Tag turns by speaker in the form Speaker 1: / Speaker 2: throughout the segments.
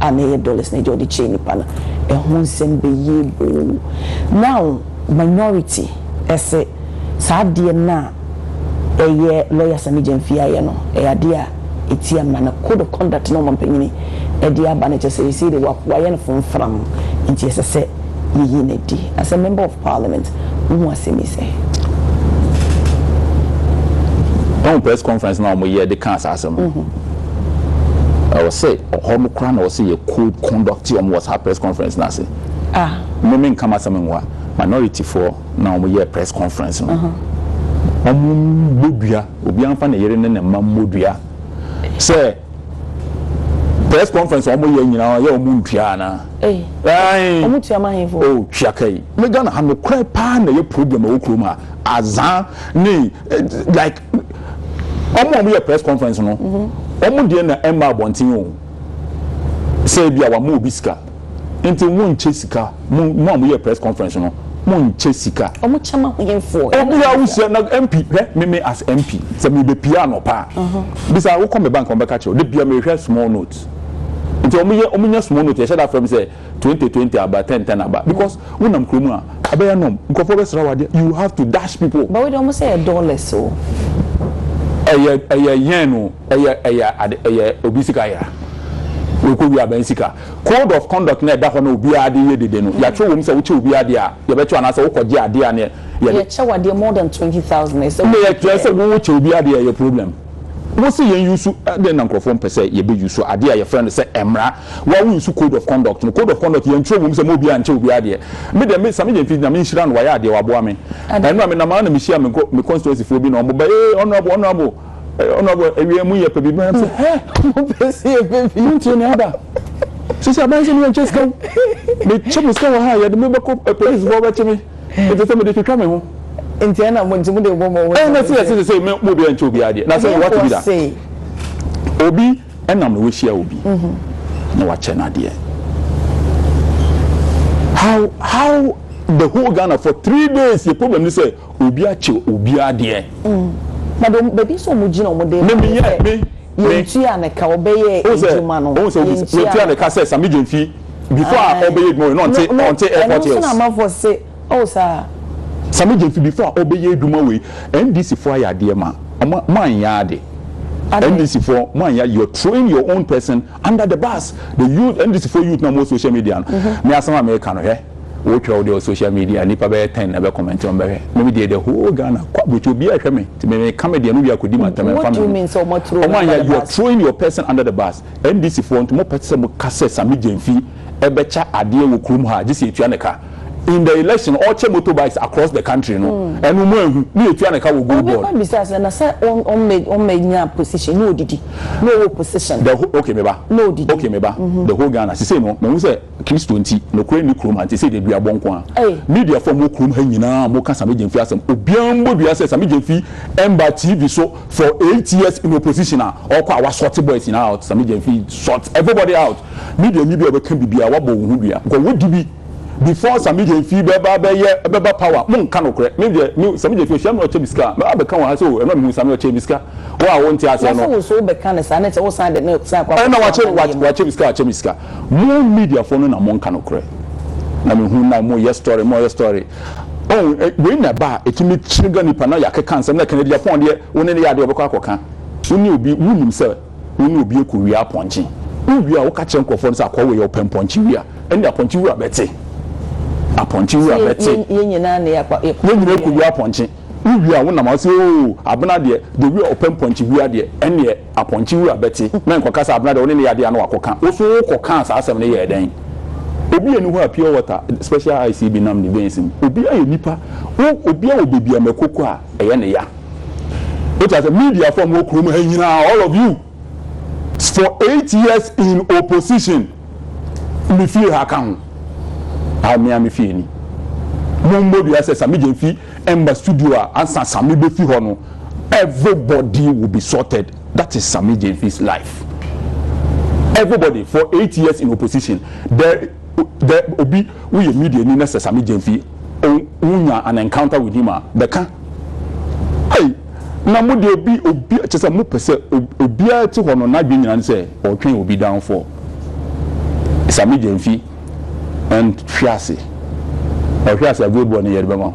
Speaker 1: a na ɛyɛ dollars na ɛgye a ɔde kyɛɛ nnipa no ɛho nsɛm bɛyie boo now minority ɛse saa adeɛ no a ɛyɛ lawyer Sammy Gyamfi ayɛ no ɛyɛ adeɛ a ɛtia mmara na code of conduct na ɔmampanyini ɛde aba no kyɛ sɛ ɛsei deɛ wayɛ no fomfram nti ɛsɛ sɛ Yɛyi no adi. As a member of parliament, wo ho asɛm yi sɛn?
Speaker 2: Woahu press conference no a wɔyɛ de kaa saa asɛm no? Ɛwɔ sɛ hɔ no koraa na ɛwɔ sɛ yɛ code conduct wɔn wɔ saa press conference no ase. Mme me nka m'asɛm nwa, minority foɔ na wɔn yɛɛ press conference no. Wɔn mmɔ dua, obiara nfa ne yere ne ne mma mmɔ dua sɛ. Press conference a wɔyɛ nyinaa yɛ wɔn ntua anaa? Ei, Ae. wɔn tua ma ahemfo. Oh, tua ka yi. Me Ghana ha nokorɛ paa na ɛyɛ problem ɛwɔ kurom ha. Azaa ne eh, like wɔn a wɔyɛ press conference no, wɔn deɛ na ɛmma abɔnten o. Sɛ ebi a wɔama obi sika. Nti mo nkyɛ sika mo mo a mo yɛ press conference no mo nkyɛ sika. Ɔmo kyɛ ma ahenfoɔ.
Speaker 1: Obiara wo sua na
Speaker 2: MP hwɛ me me as MP sɛ me bɛ pia anɔpa a bisa wo kɔ me bank ɔmo bɛ ka kyerɛ wo de bia me hwɛ small note nti ɔmo yɛ ɔmo nya small note yɛ hyɛ da frɛ me sɛ twenty twenty aba ten ten aba because wo nam kuro mu a ɛbɛ yɛ nom nkorɔfoɔ bɛ sra wo adeɛ you have to dash people. But wo deɛ ɔmo sɛ yɛ
Speaker 1: dollars o. Ɛyɛ ɛyɛ
Speaker 2: yen o. Ɛyɛ ɛyɛ ade ɛyɛ obi sika yera ɔkɔ wie abɛn sika code of conduct no a ɛda hɔ na obiara de yɛ dede no yɛatwerɛ wom sɛ wokyɛ obi adeɛ a yɛbɛkyɛ wo anaasɛ wokɔ gye adeɛ a ne yɛde Yɛkyɛ wo
Speaker 1: adeɛ more than twenty thousand ɛsɛ sɛ woyi Kyerɛ sɛ wo kyɛ
Speaker 2: obi adeɛ ɛyɛ problem wo se yɛn use ɛdɛn na nkorɔfoɔ mpɛ sɛ yɛbɛ use adeɛ a yɛfrɛ no sɛ ɛmmra wo a wo use code of conduct no code of conduct yɛntwerɛ wom sɛ ma obiara nkyɛ obi adeɛ me deɛ me Sammy Gyamfi Nyame nhyira no wayɛ adeɛ waboa me ɛno a menam ara na mehyia me constituency foɔ bi na wɔn ba ee honourable honourable ɔno abɔ awia mu yɛ pɛ biribi ɔnam sɛ hɛ mopɛ sɛ yɛpɛ bi montie ne aba sisi aban sɛ meyɛ nkyɛ sika wo mekyɛ me sika wɔ ha a yɛde me bɛkɔ apolisifoɔ bɛkye me nti sɛ mede twitwa me ho nti ɛna mo nti
Speaker 1: mo de bɔ mo ho ɛna sɛ yɛsɛ sɛ mo
Speaker 2: mo obiara nkyɛ obiara deɛ na sɛ wɔte bi da obi ɛnam na wahyia obi na wakyɛ no adeɛ how how the whole Ghana for three days yɛ problem ni sɛ Obi akyɛ obi adeɛ. Na deɛ
Speaker 1: baabi nso wɔn gyina wɔn de. Me me yɛ me me. Yɛn tua ne ka ɔbɛyɛ adwuma no. Ohun sɛ ohun sɛ yɛn tua ne ka
Speaker 2: sɛ Sammy Gyamfi before a ɔbɛyɛ adwuma wɔ yɛ no ɔnte ɔnte airport hills. Ɛno nso na amanfoɔ se
Speaker 1: oh saa. Sammy Gyamfi
Speaker 2: before a ɔbɛyɛ adwuma wɔ yi NDC foɔ ayɛ adeɛ ma wɔn mo anyɛ ade NDC foɔ mo anyɛ ade you are throwing your own person Under the bus the youth NDC foɔ youth no a wɔwɔ social media no me asɛm a meka no hwɛ wo twerɛ wo deɛ wɔ social media nipa bɛyɛ ten na ɛbɛ comment wɔn bɛhwɛ me me deɛ the whole Ghana kɔ aburokyi obiara hwɛ me ti me me ka me deɛ no wia kɔ di ma tɛm ɛnfa mi
Speaker 1: wɔn anyɛ you are throwing your
Speaker 2: person under the bus NDC foɔ nti mo pɛ sɛ mo ka sɛ Sammy Gyamfi. ɛbɛkya adeɛ wɔ kurom ha gye sɛ yɛtua ne ka in the election ɔkyɛ motor bikes across the country no ɛno mo anhu ne yɛtua ne ka wɔ gold board. Obi kɔ bisa sɛ na sɛ
Speaker 1: ɔmmɛ nya position na ɔdidi na ɔwɔ position na ɔdidi. Ok me ba
Speaker 2: ok me ba
Speaker 1: the whole
Speaker 2: Ghana sisei no mahu sɛ Christo nti nokorɛ nni kurom ha nti sɛ deɛ dua bɔ nko ara media fo a mowɔ kurom ha nyinaa mo ka Sammy Gyamfi asɛm obiara mmɔ dua sɛ Sammy Gyamfi mba TV so for eight years in opposition a ɔkɔ a wa sort boys nyinaa out Sammy Gyamfi sort everybody out. Media nyi bi a ɔbɛka biribiara wabɔ wo ho dua because wodi bi before sa media nfi bɛba abɛyɛ ɛbɛba power mo nka nokorɛ me deɛ me sa media fi ɔhyia me na ɔkyɛ me sika a mɛba abɛka wɔ ha sɛ o ɛno a mehu sa me ɔkyɛɛ me sika wo a wo nte aseɛ no. Na sɛ wo nso wo bɛka no saa ne sɛ
Speaker 1: wo san de no san kɔ akɔto ɔman no yɛ mu. Ɛna wakyɛ wakyɛ
Speaker 2: me sika wakyɛ me sika mo media foɔ no na mo nka nokorɛ na me hu na mo yɛ story mo yɛ story oh wei na ɛba a ɛtumi trigger nipa na yɛakeka nsɛm na ɛka no adi apɔn deɛ wo ne no yɛ adeɛ ɔbɛkɔ akɔka wo ne obi wo nim sɛ Wo ne obi rekɔ wia apɔnkye. Wowie a, woka kyerɛ nkurɔfoɔ no sɛ, Akɔɔ wei yɛ ɔpɛ mpɔnkye wia. Ɛnneɛ apɔnkye wura bɛte. Apɔnkye wura bɛte. Yɛn nyinaa na yɛkɔ
Speaker 1: wia. Yɛn nyinaa rekɔ wia apɔnkye.
Speaker 2: Wowie a, wonam a, wose, Oo, Abena deɛ, deɛ wei a ɔpɛ mpɔnkye wia deɛ, ɛnneɛ apɔnkye wura bɛte. Na nkɔka sɛ, Abena deɛ, wo ne no yɛ adeɛ a na wakɔka. Wo nso wokɔkaa saa asɛm no yɛɛ dɛn? Obi nni hɔ a pure water, special ice bi nam ne veins mu. Obiara yɛ nipa. Wo, obiara wɔ baabi a mako kɔ a, ɛyɛ ne ya. Wote ase? Media fo a wɔwɔ kurom ha nyinaa, all of you, for eight years in opposition, me fie ha ka ho. A me a me fie ni. Mo mbɔ dua sɛ Sami Gyen fi ɛmba studio a ansa Sami bɛ fi hɔ no, everybody will be sorted. That is Sami Gyen fi's life. Everybody for eight years in opposition, there dɛ obi wo yɛ media ni na sɛ same gyamfi on wo nya an encounter with him a bɛ ka ei na mo deɛ obi obi kyɛ sɛ mo pɛ sɛ obiara ti hɔ no n'adwene nyina ne sɛ ɔtwɛn obi downfall same gyamfi and hwe ase ɔhwe ase a gold boy no yɛde bɛma wo.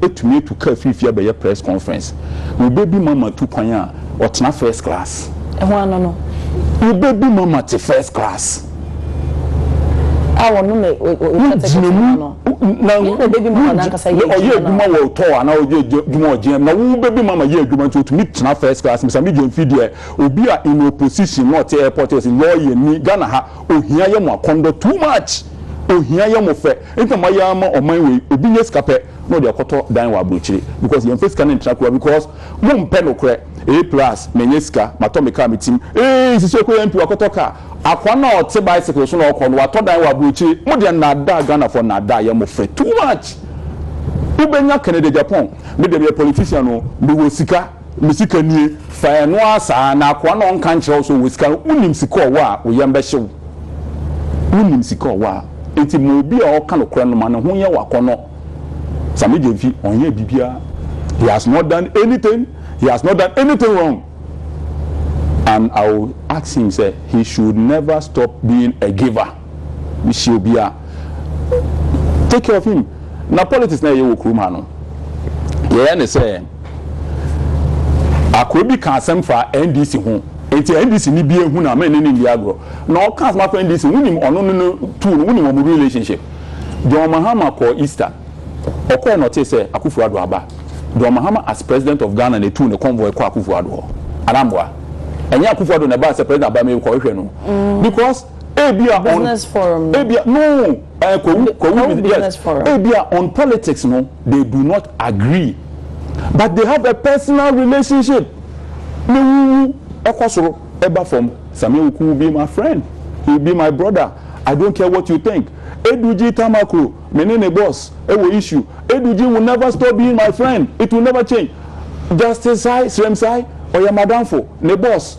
Speaker 2: tumi atu car fiifii abɛyɛ press conference na ɔbɛ bi mama tu kwan a ɔtena first class. Ɛho ano no.
Speaker 1: Ɔbɛ
Speaker 2: bi mama te first class.
Speaker 1: A ɔno na ɔgyina mu
Speaker 2: na
Speaker 1: ɔyɛ adwuma wɔ ɔtɔ
Speaker 2: anaa ɔyɛ adwuma wɔ GM na wo bɛ bi mama yɛ adwuma nti ɔtumi tena first class misa me gyamfi deɛ obi a in opposition na ɔte airport ɔsi lɔɔyɛ ni Ghana ha ohia yɛ mo akɔndɔ too much ohia yɛ mo fɛ Enti na mayɛ ara ma ɔman wei obi nya sika pɛ na ɔde akɔtɔ dan wɔ abrokyire because yɛnfa sika no ntra kura because mo mpɛ nokorɛ ee plus manya sika matɔ me car me tim ee sisi ɔkɔ yɛn pi wakɔtɔ car akoa no a ɔte bicycle so na ɔkɔ no watɔ dan wɔ abrokyire mo deɛ nnaadaa Ghanafoɔ nnaadaa yɛ mo fɛ too much wobɛnya Canada Japan me deɛ meyɛ politician oo mewɔ sika. Me sika nie, fa ɛno ara saa, na akoa no a ɔnka nkyerɛ wo sɛ ɔwɔ sika no, wonim sika a ɔwɔ a, wo yam bɛhye wo. Wonim sika a ɔwɔ a. Enti ma obi a ɔka nokorɛ no, ma ne ho nyɛ wo akɔnnɔ. Sammy Gyamfi, ɔnyɛɛ biribiara. He has not done anything, he has not done anything wrong. And I will ask him sɛ, he should never stop being a giver. me hyia obi a take care of him na politics na yɛyɛ wɔ kurom ha no yɛyɛ ne sɛ akora bi ka asɛm fa ndc ho nti ndc ni bi ehu na mɛ ne ne ndi agorɔ na ɔka asɛm afa ndc wunim ɔno ne no tuu no wunim wɔn relationship john mahama kɔ easter ɔkɔɛ na ɔte sɛ akufo ado aba john mahama as president of ghana na etu ne convoy kɔ akufo ado hɔ anamboa ɛnyɛ akufo ado na ɛbaa sɛ president abamɛ kɔ hwehwɛ no mm. because Ebia on business
Speaker 1: forum no. Ebia no
Speaker 2: eh, Kwawu Kwawu
Speaker 1: business forum. Ebia on politics no
Speaker 2: they do not agree but they have a personal relationship. Me wuwu ɛkɔ soro ɛba fam. Samia Oku will be my friend. He will be my brother. I don't care what you think. Edugyi Tamakro me ne ne boss ɛwɔ issue. Edugyi will never stop being my friend. It will never change. Justice Sai Sremsai ɔyɛ madamfo, ne boss.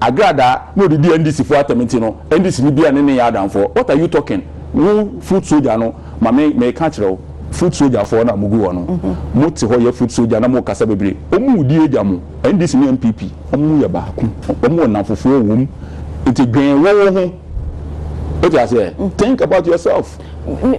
Speaker 2: Agradaa na ɔde di NDC foɔ atɛm nti no NDC ni biara ne ne nyɛ adamfoɔ what are you talking wo foot soldier no ma me meka akyerɛ wo foot soldier foɔ no a mogu hɔ no mo te hɔ yɛ foot soldier na mo kasa bebree wɔn wo di agya mo NDC ne NPP wɔn yɛ baako wɔn wɔ nnamfofoɔ wɔ mu nti dwen wo wo ho wote aseɛ think about yourself.